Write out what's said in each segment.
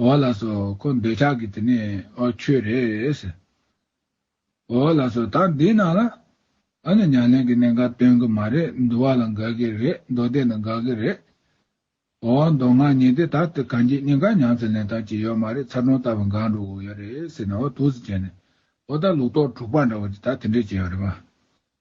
ཨོ་བ་ལགས་སོ་ཁོ་འདོད་ཆགས་ཀྱི་དེ་ནས་ཨོ་ཁྱོད་རེད། ཟེར། ཨོ་བ་ལགས་སོ་ད་འདི་ནང་ལ། ཨ་ནི་ཉག་ལན་གྱི་གནས་འགའ་སྟོན་གྱི་མ་རེད་འདུ་བ་ལ་འགའ་གི་རེད་མདོ་སྡེ་ནི་འགའ་གི་རེད། ཨོ་བ་མདོ་སྔགས་ཉིན་དེ་ད་ཏི་གངས་སྐྱིད་གཉིས་ཀ་ཉང་ཙི་ལན་ཐང་གྱི་ཡོད་མ་རེད་ཚ་གྲོང་ལྟ་བུ་འགའ་འགྲོ་དགོས་ཡོད་རེད་ཟེར་ནས་ཨོ་ཐུགས་སུ་བྱས་ནས་ཨོ་ད་ལུག་ཏོག་དྲུག་པ་འདྲ་བ་དེ་ད་དེ་འདྲས་བྱས་ཡོད་རེད་པ།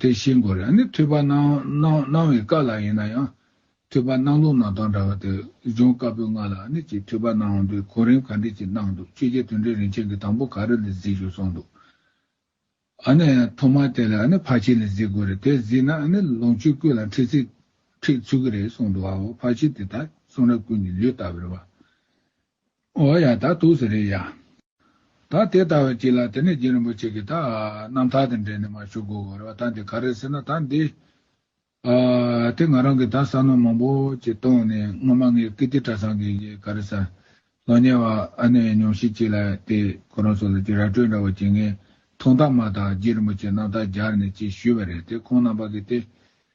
དེ་ཤེས་དགོས་རེད་ནི་ཐོས་པ་སྣང་བའི་བཀའ་ལ་ཡིན་ན་ཡང། ཐོས་པ་སྣང་ལུགས་ནང་དང་འདྲ་བ་དེ་སྦྱོང་དཀའ་པོའི་ང་ལ་ནི་ཅིག་ཐོས་པ་སྣང་བའི་གོ་རིམ་ག་འདྲས་ཅིག་གནང་འདུག་ཆོས་རྒྱལ་དོན་འགྲེལ་རིན་ཆེན་གྱི་དང་པོ་ག་རེ་ལས་གཟིགས་ཞུ་གསུངས་འདུག་ཨ་ནི་ཐོག་མར་དེ་ལ་ནི་ཕར་ཕྱིན་ལས་གཟིགས་དགོས་རེད་དེ་གཟིགས་ན་ནི་ལོངས་སྤྱོད་ཀུན་ལ་འཁྲིད་ཚིག་འཁྲིད་ཚུལ་གྱི་རེད་གསུངས་འདུག་ཨའོ་ཕར་ཕྱིན་དེ་དག་གསུང་རབ་ཀུན་གྱི་ལུས་ལྟ་བུར་བ། འོ་ཡ་ད་ཐུགས་ཟེར་རེད་ཡ། ད་དེ་ལྟ་བས་ཅི་ལ་དེ་ནས་རྗེ་རིན་པོ་ཆེ་གིས་ད་རྣམ་ཐར་དང་འབྲེལ་ནས་མ་ཞུ་དགོས་བར་བ་ད་འདི་ག་རེད་ཟེར་ན་ད་འདི། ཨ། དེ་ང་རང་གིས་ད་ས་ནོར་མང་པོ་ཅིག་བཏོང་ནས་སྔོན་མ་ངའི་ཀིརྟི་གྲྭ་ཚང་གི་ཡི་ག་རེད་ས། ལོ་ཉེ་བ་ཨ་ནེ་ཡང་ཉོམས་ཤིག་ཅིག་ལ་དེ་ཁོ་རང་ཚོ་ལ་ཅིག་ར་སྤྲོད་འདྲ་བ་ཅིག་ངས་ཐུགས་འདག་མ་ཐག་རྗེ་རིན་པོ་ཆེ་རྣམ་ཐར་སྦྱར་ནས་ཅིག་ཞུས་བ་རེད་དེ་ཁོང་རྣམ་པ་གིས་དེ།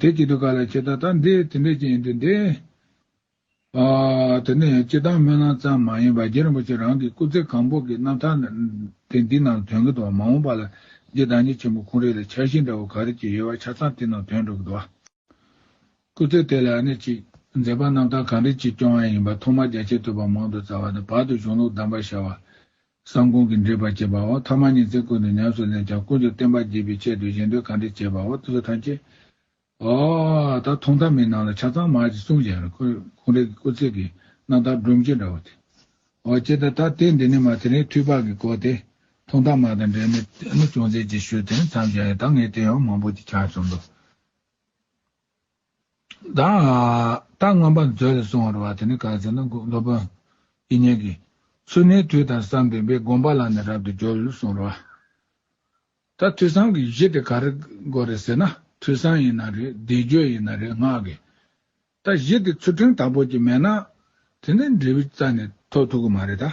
དེ་ཅི་ཏུ་ག་ལ་ཁྱེད་ད་ལྟ་འདི་དེ་འདྲས་ཀྱི་ཡིན་དུས་འདི། དེ་ནས་སྤྱི་བཏང་སྨོན་ལམ་ཙམ་མ་ཡིན་པར་རྗེ་རིན་པོ་ཆེ་རང་གི་སྐུ་ཚེ་གང་པོ་གི་རྣམ་ཐར་དེ་འདི་ནང་དོན་གྱི་འདུག་མ་འོངས་པ་ལ་རྗེ་བདག་ཉིད་ཆེན་པོ་ཁོང་རིགས་ལ་འཆར་གཞི་འདྲ་བོ་ག་རེ་ཅིག་ཡོད་པ་ཆ་ཚང་དེ་ནང་དོན་འགྲོ་གི་འདུག་ཨ། སྐུ་ཚེ་དེ་ལ་ནི་ཅིག་མཛད་པ་རྣམ་ཐར་གང་རེ་ཅིག་སྐྱོང་ཡ་ཡིན་པ་ཐོག་མར་རྒྱ་ཆེ་ཐོས་པ་མང་དུ་བཙལ་བ་དང་བར་དུ་གཞུང་ལུགས་གདམས་པར་ཤར་བ། གསང་གོང་གི་འགྲེལ་པར་བྱེད་པའོ། ཐ་མ་ཉིད་ཚེ་ཀུན་ཏུ་ཉམས་སུ་ལེན་ཅིང་ཀུན་ཏུ་བསྟན་པ་བགྱིད་པའི་ཆེད་དུ་གཞན་དོན་གང་དྲིས་བྱེད་པའོ་ཏི་སོ་ཐམས་ཅད། ཨོ། ད་ཐུང་ཐ་མའི་ནང་ལ་ཆ་ཚང་མར་གྱི་གསུང་བཞག་ནས་ཁོང་རེ་གི་སྐུ་ཚེ་གི་གནང་སྟངས་སྒྲོམ་གཅིག་འདྲ་བོ་དེ། ཨོ་ཅེ་ད་ད་དེ་འདི་ནི་མ་དེ་རིང་ཐུགས་དཔག་གི་སྐོར་དེ། ཐུང་ཐ་མ་དང་འབྲེལ་ནས་ཅུང་ཟད་ཅིག་ཞུས་དེ་ནས་མཚམས་བཞག་ཡོད་ད་ངས་དེ་ཡང་མང་པོ་ཅིག་ཆ་བྱུང་འདུག། ད་མངོན་པར་མཛོད་ལས་གསུང་བར་བ་དེ་ནི་གང་ཟེར་ན་སློབ་དཔོན། ཨི་སྙན་གྱིས། ཚུལ་གནས་དུས་དང་བསམ་པའི་བས་དགོངས་པ་ལ་ནི་རབ་ཏུ་སྦྱོར་ལུགས་གསུང་བར་བ། ད་ཐོས་བསམ་གྱི་གཞི་དེ་ག་རེ་དགོས་རེད་ཟེར་ན་ཐོས་བསམ་ཡིན་ན་རེད་བཟླས་བརྗོད་ཡིན་ན་རེད་སྔགས་ཀྱི་ད་གཞི་དེ་ཚུལ་ཁྲིམས་དང་པོ་གཅིག་མེད་ན། དེ་འདྲའི་འབྲས་བུ་རྩ་ནས་ཐོབ་ཐུབ་ཀྱི་མ་རེད་ད།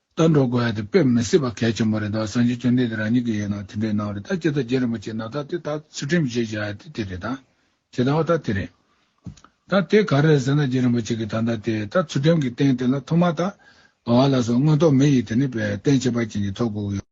ལྟ་འགྲོ་དགོས་ཡ་དེ་དཔེ་མི་སྲིད་པ་གལ་ཆེན་པོ་རེད་འདུག་བསམ་གཞིག་ཅུང་ལྡན་དེ་རང་ཉིད་ཀྱི་ཡིན་ནོ་དེ་འདྲའི་ནང་རེད་ད་སྤྱི་ཚོགས་རྒྱན་རིན་པོ་ཆེ་ནང་ད་དེ་ད་ཚུལ་ཁྲིམས་བྱེད་བྱ་ཡ་དེ་དེ་རེད་ད་བྱེད་ད་བ་ད་དེ་རེད། ད་དེ་ག་རེད་ཟེར་ན་རྒྱན་རིན་པོ་ཆེ་གི་ད་ད་དེ་ད་ཚུལ་ཁྲིམས་ཀྱི་སྟེང་དེ་ལ་ཐོག་མ་ད་བ་བ་ལ་སོ་དངོས་ཐོག་མི་ཡིས་དེ་ནི་བས་བསྟན་བྱེད་པ་ཅན་གྱི་ཐོག་གུག་ཡོད།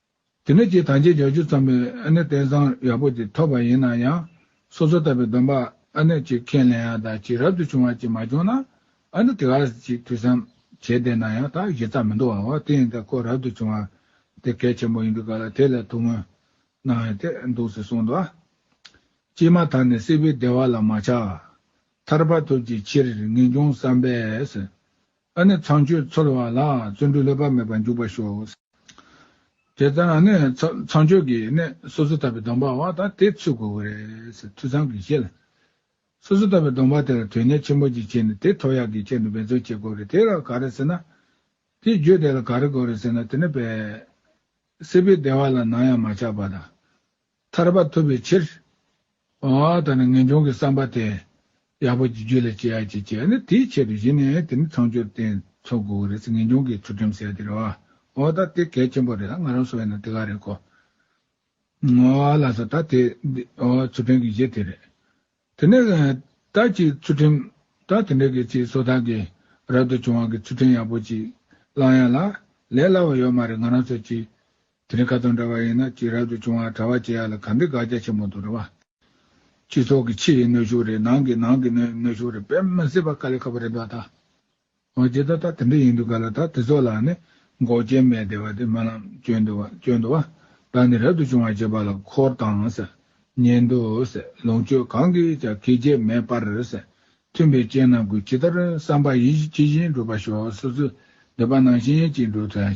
དེ་ནས་ཀྱི་དང་བརྗེད་འཇོག་བཅུ་ཙམ་པའི་ཨ་ནེ་བསྟན་བཟང་ཡག་པོ་དེ་ཐོབ་པ་ཡིན་ན་ཡང། སོ་སོ་ལྟ་བུའི་སྡོམ་པ་ཨ་ནེ་གཅིག་ཁས་ལེན་ཡག་དང་གཅིག་རབ་ཏུ་བྱུང་བ་གཅིག་མ་བྱུང་ན། ཨ་ནེ་དེ་ག་ཅིག་དུས་སམ་བྱས་བསྡད་ན་ཡང་དག་གཞི་རྩ་མི་འདུ་བའོ་དེ་ཡིན་ད་ཁོ་རབ་ཏུ་བྱུང་བ་དེ་གལ་ཆེན་པོ་ཡིན་འདུག་ག་ལ་དེ་ལས་ཐུགས་སྨོན་གནང་ཡོད་དེ་འདུག་ཟེར་གསུངས་འདུག་ཀྱི་མ་ཐག་ནས་སྲིད་པའི་བདེ་བ་ལ་མ་ཆགས། ཐར་པ་ཐོབ་ཀྱི་ཕྱིར་ངེས་འབྱུང་བསམ་པས། ཨ་ནི་ཚངས་སྤྱོད་ཚོལ་བ་ལ་བརྩོན་འགྲུས་ལྷོད་པ་མེད་པར་འཇུག་པར་ཤོག། དེ་ལྟར་ན་ནི་ཚངས་སྤྱོད་ཀྱི་གནས་སོ་སོ་ལྟ་བུའི་སྡོམ་པ་བ་དང་དེ་ཚུད་དགོས་པར་རེད། ཐོས་བསམ་གྱིས་ཤེས་ལ། སོ་སོ་ལྟ་བུའི་སྡོམ་པ་དེར་དོན་གཉེར་ཆེན་པོ་ཅིག་བྱས་ནས་དེ་ཐོག་ཡར་གྱི་ཆེད་དུ་འབད་བརྩོན་བྱེད་དགོས་རེད་དེ་ལ་ག་རེ་ཟེར་ན། དེའི་རྒྱུ་དེ་ལ་ག་རེ་དགོས་རེད་ཟེར་ན་དེ་ནི། སྲིད་པའི་བདེ་བ་ལ་ནམ་ཡང་མ་ཆགས་པ་དང། ཐར་པ་ཐོབ་པའི་ཕྱིར། ད་ནི་ངེས་འབྱུང་གི་བསམ་པ་དེ། ཡག་པོ་ཀྱི་རྒྱུད་ལ་སྐྱེ་ཡག་ཅིག་སྐྱེས་ན་དེའི་ཆེད་དུ་གཞི་ནས་དེ་ནི་ཚངས་སྤྱོད་བརྟེན་འཚོལ་དགོས་ཀྱི་རེད་ངེས་འབྱུང་གི་ཚུལ་ཁྲིམས་གསལ་ཏེ་རེད། འོ་ད་དེ་གལ་ཆེན་པོ་རེད་ང་རང་སོ་ཡིན་ན་དེ་ག་རེད་གོ། ལ་སོ་ད་དེ། ཚུལ་ཁྲིམས་ཀྱི་གཞི་དེ་རེད། དེ་ནས་བདག་ཅིའི་ཚུལ་ཁྲིམས་དང་དེ་འབྲེལ་གྱི་སྤྱིའི་ཚོགས་དང་གི་རབ་ཏུ་བྱུང་བ་གི་ཚུལ་ཁྲིམས་ཡག་པོ་ཅིག་བླང་ཡ་ལ། ལས་སླ་བ་ཡོད་མ་རེད་ང་རང་ཚོ་སྤྱིའི་དེ་རིང་ཁ་དང་འདྲ་བ་ཡིན་ན་ཅིག་རབ་ཏུ་བྱུང་བ་གྲ་བ་བྱེད་ཡ་ལ་ག་འདི་དགག་རྒྱ་ཆེན་པོ་འདུག་གྲ་བ། སྤྱི་ཚོགས་གི་ཕྱི་ཡི་གནོད་ཤུགས་རེད་ནང་གི་ནང་གི་གནོད་ཤུགས་རེད་དཔེ་མི་སྲིད་པ་དཀའ་ལས་ཁག་པོ་རེད་འདུག་ཨ་ད། འོ་ཇི་ལྟར་ད་དེ་འདྲ་ཡིན་འདུག་ག་ལ་ད་དེ་ཚོ་ལ་ནི་འགོག་རྐྱེན་མེད་དེ་བ་དེ་སྨོན་ལམ་བཅོལ་འདུག་བ་བཅོལ་འདུག་བ་ད་ནི་རབ་ཏུ་བྱུང་བ་བྱེད་པ་ལ་འཁོར་དང་ཟེར་ཉན་འདུག་ཟེར་ལོངས་སྤྱོད་གང་གིས་ཀྱང་གེགས་བྱེད་མེད་པར་ཟེར་མཐུན་པའི་རྐྱེན་རྣམས་ཀུན་ཇི་ལྟར་བསམ་པ་ཡིན་བཞིན་ཇི་བཞིན་འགྲུབ་པར་ཤོག་སོ་སོའི་འདོད་པ་ནང་བཞིན་གྱིས་འགྲུབ་ཐལ།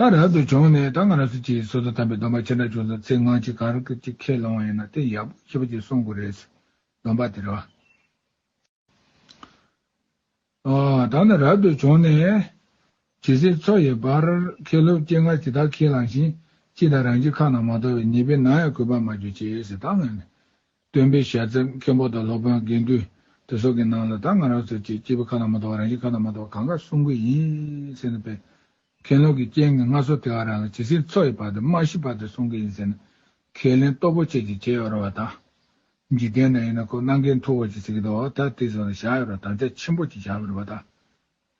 ད་རབ་ཏུ་བྱུང་ནས་ད་ང་རང་སུ་གཅིག་སོ་སོ་དམ་པའི་སྡོམ་པ་ཇི་འདྲ་བྱུང་སོང་ཚེ་ངང་གཅིག་གང་རུང་གཅིག་ཁས་བླང་བ་ཡིན་ན་དེ་ཡག་པོ་ཞེ་པོ་གཅིག་གསུངས་དགོས་རེད། སྡོམ་པ་དེ་རོ། ད་ནི་རབ་ཏུ་བྱུང་ནས། ཇི་སྲིད་འཚོ་ཡི་བར་ཁས་སློབ་སྐྱེ་ངར་གྱི་དག་ཁས་བླངས་ཤིང་གཅིག་དང་རང་གཅིག་ཁ་ན་མ་ཐོ་བའི་ཉེས་པས་ནང་ཡང་གུས་པར་མ་གྱུར་ཅེས་ད་ང་ནི། སྟོན་པའི་ཞལ་རྩེད་མཁན་པོ་དང་སློབ་དཔོན་དགེ་འདུན་དེ་སོགས་ཀྱི་ནང་ལ་ད་ང་རང་ཚོའི་ཆེད་སྐྱེས་པའི་ཁ་ན་མ་ཐོ་བ་རང་བཞིན་ཁ་ན་མ་ཐོ་བ་གང་ག་གསུང་གི་ཡིན་ཟེར་ན་བས། མཁན་སློབ་ཀྱི་རྐྱེན་ངན་སྔ་སོར་དེ་ག་རང་ལ་ཇི་སྲིད་འཚོ་ཡི་བར་དུ་སྨྲ་ཤེས་པ་དེ་གསུང་གི་ཡིན་ཟེར་ན། ཁས་ལེན་སྟོབས་པོ་ཆེ་ཅིག་བྱེད་ཡོད་རུང་བ་དང། འཇིག་རྟེན་ན་ཡིན་ན་ཁོ་གནང་མཁན་མཐུ་བོ་ཅིག་ཟེར་གི་འདུག་ད་དེ་སོགས་ལ་བཞག་ཡོད་རུང་དམ་བཅའ་ཆེན་པོ་ཅིག་བཞག་མི་རུང་བ་དང།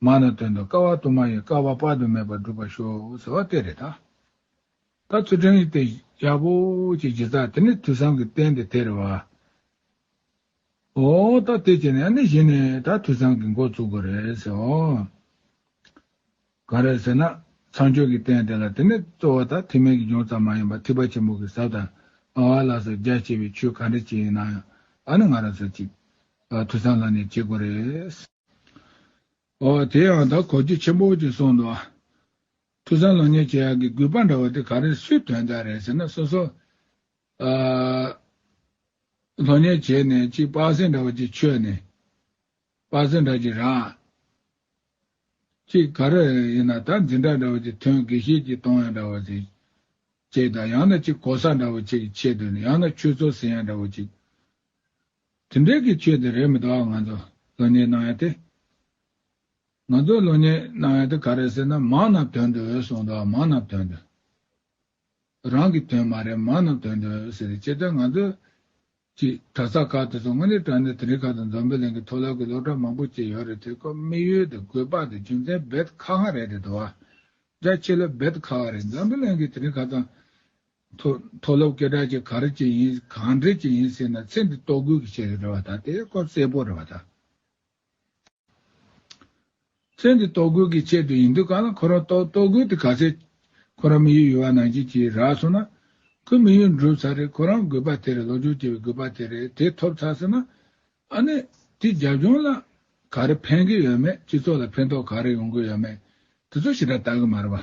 མ་ན་དོན་དུ་དཀའ་བ་དུ་མ་ཡི་དཀའ་བ་དཔག་ཏུ་མེད་པ་བསྒྲུབ་པར་ཤོག་ཟེར་བ་དེ་རེད་ད། ད་ཚུལ་ཁྲིམས་ཡིག་དེ་ཡག་པོ་ཅིག་བགྱིས་ཙང་དེ་ནི་དུས་བཟང་གི་རྟེན་དེ་དེ་རེད་བ། ཨོ། ད་དེ་བྱས་ནས་ཨ་ནི་གཞི་ནས་ད་དུས་བཟང་གི་མགོ་བཙུགས་པ་རེད་ཟེར་བ། གང་རེད་ཟེར་ན། ཚངས་སྤྱོད་ཀྱི་རྟེན་དེ་ལ་དེ་ནི་གཙོ་བོ་ད་ཐིག་མེད་ཀྱི་ལྗོངས་ཙམ་མ་ཡིན་པར་ཐིག་པ་ཆེན་པོ་གི་ཟབ་དང་དབང་བ་ལ་སོགས་རྒྱ་ཆེ་བའི་ཆོས་ག་འདྲ་ཅིག་ཡིན་ནའང་ཨ་ནི་ང་རང་སོགས་ཅིག། དུས་བཟང་ལ་ནི་བྱེད་དགོས་རེད། ཨོ། དེ་ཡང་དག་གོ་རྒྱུ་ཆེན་པོ་ཅིག་གསུངས་འདུག་ཨ། ཐུགས་བཟང་ལོ་ཉེས་བྱེད་ཡག་གི་གུས་པ་འདྲ་བ་དེ་ག་རེ་སུའི་དོན་དག་རེད་ཟེར་ན་སོ་སོ། ཨ། ལོ་ཉེས་བྱས་ནས་གཅིག་དཔག་ཟིན་འདྲ་བ་ཅིག་ཆོད་ནས། དཔག་ཟིན་འདྲ་ཅིག་རག། གཅིག་ག་རེ་ཡིན་ན་ད་འཛིན་གྲྭ་འདྲ་བ་ཅིག་ཐོན་དགེ་བཤེས་ཀྱིས་གཏོང་ཡ་འདྲ་བ་ཅིག་བྱེད་དང་ཡང་ན་གཅིག་གོ་ས་འདྲ་བ་ཅིག་གི་ཆེད་དུ་ཡང་ན་ཆོས་ཚོགས་ཟིན་ཡ་འདྲ་བ་ཅིག། དེ་འདྲའི་གི་ཆོས་དེ་རེད་མི་གཏོགས་ང་ཚོ་ལོ་གཉེར་གནང་ཡ་དེ། ང་ཚོ་ལོ་གཉེར་གནང་ཡ་དེ་ག་རེད་ཟེར་ན་མང་ན་དོན་འགྲོ་འོས་གསུངས་འདུག་མང་ན་དོན་འགྲོ། རང་གི་དོན་མ་རེད་མང་ན་དོན་འགྲོ་འོས་ཟེར་ཅེས་དོན་ང་ཚོ། ཀྱི་གྲྭ་ས་ཁག་དེ་ཚོ་དངོས་གནས་དྲ་གནས་དེ་འདྲའི་ཁག་དང་འཛོམས་པའི་གླིང་གི་མཐོ་སློབ་ཀྱི་སློབ་གྲྭ་མང་པོ་བཅས་ཡོད་རེད་དེ་ཀོ་དམིགས་ཡུལ་དེ་དགོས་པ་དེ་རྒྱུ་མཚན་རྦད་ཁ་ཁ་རེད་དེ་དུ་བ་རྒྱ་ཆེ་ལོ་རྦད་ཁ་ཁ་རེད་འཛམ་བུ་གླིང་གི་དེ་འདྲའི་ཁག་དང། མཐོ་སློབ་སྐད་གྲགས་ཅིག་ག་རེ་ཅིག་ཡིན་གང་འདྲས་ཅིག་ཡིན་ཟེར་ན་ཚེ་འདི་ལྟོ་གོས་ཀྱིས་བྱས་ཡོད་རེད་བ་ད་དེ་སྐོར་གསལ་པོ་རེད་བ་ད། ཚེ་འདི་ལྟོ་གོས་ཀྱིས་བྱས་དུས་ཡིན་དུས་གང་ལ་ཁོ་རང་ལྟོ་ལྟོ་གོས་དེ་ག་ཚད་ཁོ་རང་མི་ཡུལ་ཡུལ་བ་ནང་བཞིན་གྱིས་རག་སོང་ན། ཁོས་མི་ཡུལ་འགྲུབ་ཚར་རེད་ཁོ་རང་དགོས་པ་དེ་རེད་སློབ་སྦྱོང་བྱེད་པའི་དགོས་པ་དེ་རེད་དེ་ཐོབ་ཚར་ཟེར་ན། ཨ་ནི་དེས་རྒྱབ་ལྗོངས་ལ་ག་རེ་ཕན་གྱི་ཡོད་མེད་སྤྱི་ཚོགས་ལ་ཕན་ཐོགས་ག་རེ་ཡོང་གི་ཡོད་མེད་དེ་ཚོ་ཞེ་དྲག་བལྟ་གི་མ་རེད་བ།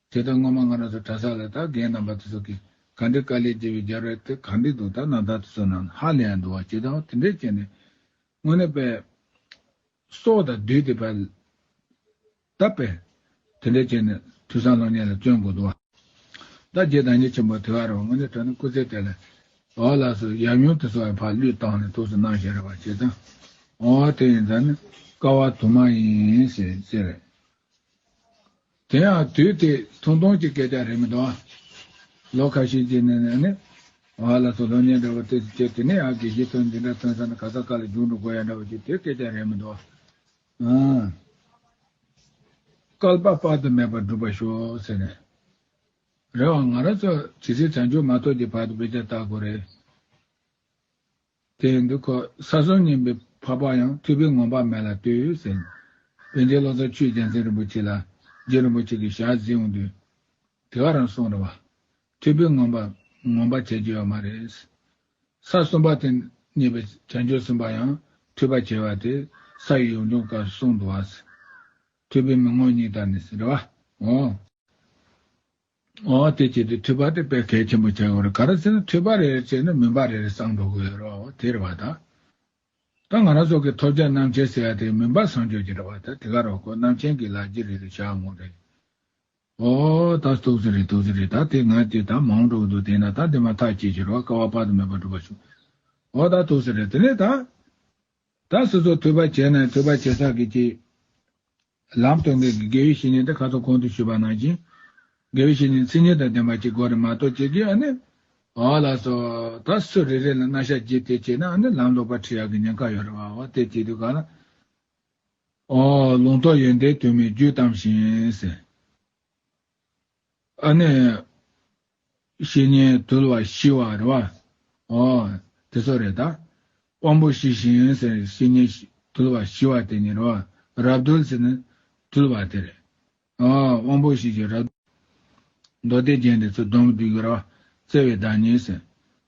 དེ་ལྟར་སྔོན་མ་ང་རང་ཚོ་གྲྭ་ས་ལ་དག་རྒན་རྣམ་པ་དེ་ཚོ་གིས་ག་འདྲའི་དཀའ་ལས་བགྱིས་པའི་རྒྱབ་རལ་དེ་ག་འདྲས་འདུག་ད་ནང་དག་དེ་ཚོ་རྣམས་ཧ་ལས་ཡང་འདུག་བ་ཇི་ལྟའོ་དེ་འདྲས་བྱས་ནས་དངོས་གནས་པས། སྲོག་དང་བསྡུས་ཏེ་པས། ད་པས། དེ་འདྲས་བྱས་ནས་དུས་སང་སློབ་གཉེར་ལ་བརྩོན་དགོས་འདུག་བ། ད་རྗེས་དང་ཉེ་ཆེན་པོ་དེ་བ་རེད་བ་དངོས་གནས་དྲ་སྣུམ་སྐུ་ཚེ་དེ་ལ། བ་ལགས་སོ་ཡབ་ཡུམ་དེ་ཚོ་ཡང་ཕར་བླུས་བཏང་ནས་ཐུགས་སུ་སྣང་ཞེས་རེད་བ་བྱས་ཙང། འོང་བ་དེ་ཡིན་ཙང་ནི་དཀའ་བ་དུ་མ་ཡིན། ཞེས་རེད། དེ་ཡང་དུས་དེ་ཐུང་ཐུང་གི་སྐད་ཆ་རེད་མི་འདུག་ཨ། ལོ་ཁ་ཤས་ཀྱི་ནང་ནས་ནི། ཨ་ལ་སོགས་སློབ་གཉེར་འདྲ་བོ་དེ་ཚོ་བྱས་དེ་ནས་ཨ་དགེ་རྒྱས་ཚོ་འདི་འདྲ་ཐོན་ས་ན་ག་ས་ག་ལ་རྒྱུགས་འགྲོ་དགོས་ཡ་འདྲ་བོ་ཞིག་དེ་སྐད་ཆ་རེད་མི་འདུག་ཨ། བསྐལ་པ་དཔག་ཏུ་མེད་པར་འགྲུབ་པར་ཤོག་ཟེར་ནས། རེད་བ་ང་རང་ཚོ་ཇི་སྲིད་བྱང་ཆུབ་མ་ཐོབ་ཀྱི་བར་དུ་དཔེ་ཆ་བལྟ་དགོས་རེད། དེ་ཡིན་དུ་ཁོས་ས་སྲོག་སྙིང་པོའི་འཕགས་པ་ཡང་སྤྲུལ་པའི་ངོམས་པ་མེད་ལ་ལྟོས། ཟེར། བོན་རྗེ་བློ་བཟང་ཆོས་རྒྱལ་མཚན་རིན་པོ་ཆེ་ལ་རྗེ་རིན་པོ་ཆེ་གི་ཞལ་གཟིགས་འོང་དུས། དེ་ག་རང་གསུང་རེད་བ། སྤྲུལ་པའི་ངོམས་པ་ངོམས་པ་བྱེད་ཀྱི་ཡོད་མ་རེད། ས་གསུམ་པ་དེ་རྙེད་པའི་བྱང་ཆུབ་སེམས་དཔའ་ཡང་འཁྲུལ་པ་བྱེད་བ་དེ་ས་ཡི་ཡོངས་སྦྱོང་སྐབས་གསུང་འདུག་བ། སྤྲུལ་པའི་མི་ངོམས་གཉིས་དག་ནི་ཟེར་བ། འོང། དེ་བྱས་ཏེ་འཐུས་པ་དེ་དཔེ་གལ་ཆེན་པོ་བྱ་དགོས་རེད་ག་རེ་ཟེར་ན་འཐུས་པ་རེ་རེ་བྱས་ན་མིན་པ་རེ་རེ་བསང་འགྲོ་གི་ཡོད་རེད་བ་དེ་རེད་བ་ད། ད་ང་རང་སོགས་ཀྱི་ཐོབ་བྱ་རྣམ་ཆེན་ཟེར་ཡ་དེ་མིན་པ་བསང་འཇོག་གྱི་རེད་བ་ད་དེ་ག་རེ་བ་ཁོ་རྣམ་ཆེན་གྱི་ལག་རྗེས་རེད་དུ་བཞག་ངོ་རེད། ཨོ། ད་ཐུགས་རྗེ་རེད་ཐུགས་རྗེ་རེད་ད་དེ་ང་དེ་ད་མང་འགྲོ་གི་འདུག་དེས་ན་ད་འདི་མ་ཐག་ཅེས་བྱས་རེད་བ་དཀའ་བ་དཔག་ཏུ་མེད་པ་འགྲུབ་པ་ཞུ། ཨོ་ད་ཐུགས་རྗེ་རེད་དེ་ནས་ད། ད་སོ་སོ་འཐུས་པ་བྱས་ན་འཐུས་པ་བྱས་ས་གི་ཅི། ལམ་སྟོན་མཁན་གྱིས་དགེ་བའི་བཤེས་གཉེན་དེ་ཁ་ཐོར་གོང་དུ་ཞུས་པ་ནང་བཞིན། དགེ་བའི་བཤེས་གཉེན་ཚིག་གཉིས་དང་ལྡན་པ་གཅིག་གོ་རེ་མ་གཏོགས་ཅི་བགྱི་ཨ་ནི། བ་ལ་སོ། ད་སུ་རེ་རེ་ལ་སྣ་ཤ་བགྱིས་དེ་བྱས་ན་ཨ་ནི་ལམ་ལོག་པར་ཁྲིད་ཡག་གི་ཉེན་ཁ་ཡོད་རེ་བ་འོ་དེ་བགྱིས་དུས་ག་ལ། འོ། ལུང་རྟོགས་ཡོན་ཏན་དུ་མས་རྒྱུད་གཏམས་ཤིང། ཨ་ནི། བཤེས་གཉེན་དུལ་བ་ཤི་བ་རེད་བ། ཨོ། དེ་ཚོ་རེད་ད། དབང་པོ་ཤི་ཞིང་ཟེར་བཤེས་གཉེན་དུལ་བ་ཤི་བ་དེ་ནི་རེད་བ། རབ་གདུལ་ཟེར་ནི། དུལ་བ་དེ་རེད། ཨོ། དབང་པོ་ཤི་ཞིང་རབ། མདོ་སྡེ་རྒྱན་དེ་ཚོ་སྡོམ་བརྒྱུད་ཀྱི་རེད་བ། བརྩེ་བའི་བདག་ཉིད་ཟེར།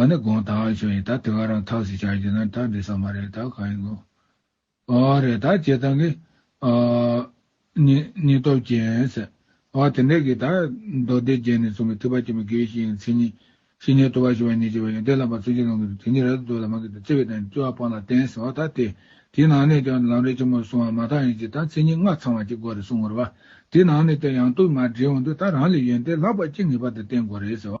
ཨ་ནི་དགོངས་དག་བྱུང་ཡིན་ད་དེ་ག་རང་ཐགས་སུ་བྱ་རྒྱུ་ན་ད་འདི་ས་མ་རེད་ད་གང་ཡིན་དགོངས། ཨ་རེད་ད་བྱེད་སྟངས་ཀྱི། ཨ་ནི་སྙིང་སྟོབས་ཅན་ཟེར། ཨ་དེ་འདྲ་གི་ད་མདོ་སྡེ་བརྒྱད་ནས་གསུངས་པའི་ཐེག་པ་ཆེན་པོ་དགེ་བའི་བཤེས་གཉེན་མཚན་ཉིད། བཤེས་གཉེན་ལྟོ་བ་བཞི་བ་ཉེས་བྱས་པ་ཡོན་ཏན་བླ་མ་བརྩོན་འགྲུས་བློ་འགེངས་དེ་ཉིད་རལ་དུ་འདོད་ལ་མ་འགེངས་ཏེ་བརྩེ་བས་དང་བཅུ་བ་སྤངས་ལ་བརྟེན་ཟེར་བ་ད་དེ། དེའི་ནང་ནས་ཀྱང་ལམ་རེ་ཆེན་མོར་སོང་བ་མ་ཐག་ཡིན་གྱི་ད་མཚན་ཉིད་ལྔ་ཚང་བ་གཅིག་དགོས་རེད་གསུངས་ངོར་བ། དེའི་ནང་ནས་ཀྱང་ཡང་དུ་མར་འདྲེས་འོང་དུས་ད་རང་ལས་ཡོན་ཏན་ལྷག་པ་ཅི་ངེས་པ་དེ་བསྟེན་དགོས་རེད་ཟེར་བ།